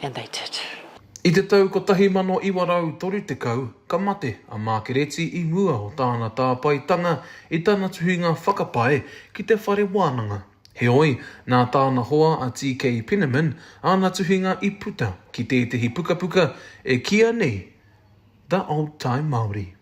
and they did. I te tau 1930 ka mate a Mākereti i mua o tāna tāpaetanga i tana tuhinga whakapae ki te whare wānanga. Heoi, nā tāna hoa a TK Penniman āna tuhinga i puta ki tētehi pukapuka e kīa nei The Old Time Māori.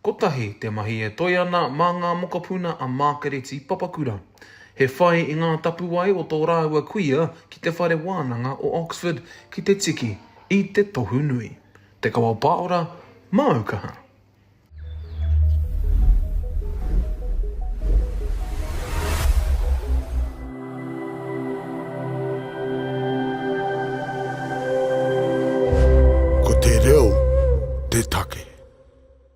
Kotahi te mahi e toe ana mā ngā mokopuna a Mākereti Papakura. He whai i ngā tapuwae o tō rāua kuia ki te Whare Wānanga o Oxford ki te tiki i te tohu nui. Te Kawao Pāora, māu kaha. Ko te reo te take.